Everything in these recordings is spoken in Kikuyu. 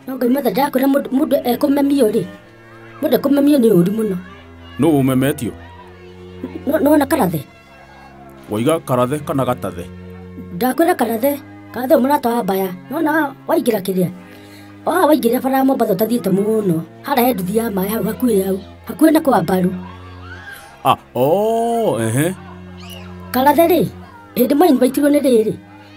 no ngai matha ndakwĩra mũndũ mũndũ ekũmemio rĩ mũndũ ekũmemio nĩ ũru mũno nũ ũmemetio No- nĩwona karathe waiga karathe kana gatathe ndakwĩra karathe karathe mũrata wa mbaya nona waingĩra kĩrĩa oha waingĩra bara ya mombatha ũtathiĩte mũno hara he nduthi ya maĩ hau hakuhĩ hau hakuhĩ na kwa mbaru ah oo ehe karathe rĩ hĩndĩ maini maitirwo nĩ rĩrĩ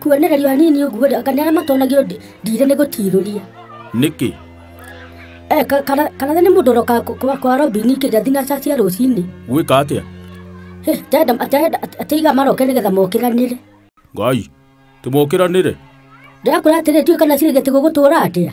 kuonererio hanini ũguo rĩ anga nĩ arĩa matonagio ndĩ- ndire nĩ gũtirũria nĩkĩ Eh, ka- kana kana nĩ mũndũ ũroka kwa- kwa- kwa robini kĩrĩa thinaca cia rũcinĩ gwĩka atĩa Eh, ndenda ndenda atĩiga maroke nĩgetha mokiranĩre ngai tũmokĩranĩre ndĩrakwĩra atĩrĩ tiũĩ kana cirĩgĩte gũgũtũra atĩa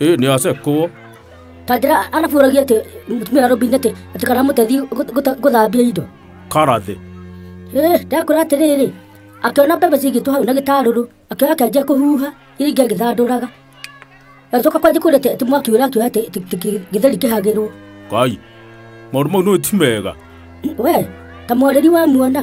ĩ nĩ ace kũwo tanjĩra arabu ũragia atĩ mũtumia wa robini atĩ atĩ kana mũtethi gũta- gũta- gũthambia indo karathĩ Eh, ndakwĩra atĩrĩrĩ akĩona mbembe cigĩtwo hau na gĩtarũrũ akĩoya akĩanjia kũhuha iria ingĩ agĩthandũraga agĩcoka kwanjia kwĩra atĩ mwaki ũrĩa akĩoya atĩ atĩ- atĩ gĩtheri kĩhagĩrwo ngai maũndũ mau nĩ ti mega we ta mwarĩri wa muona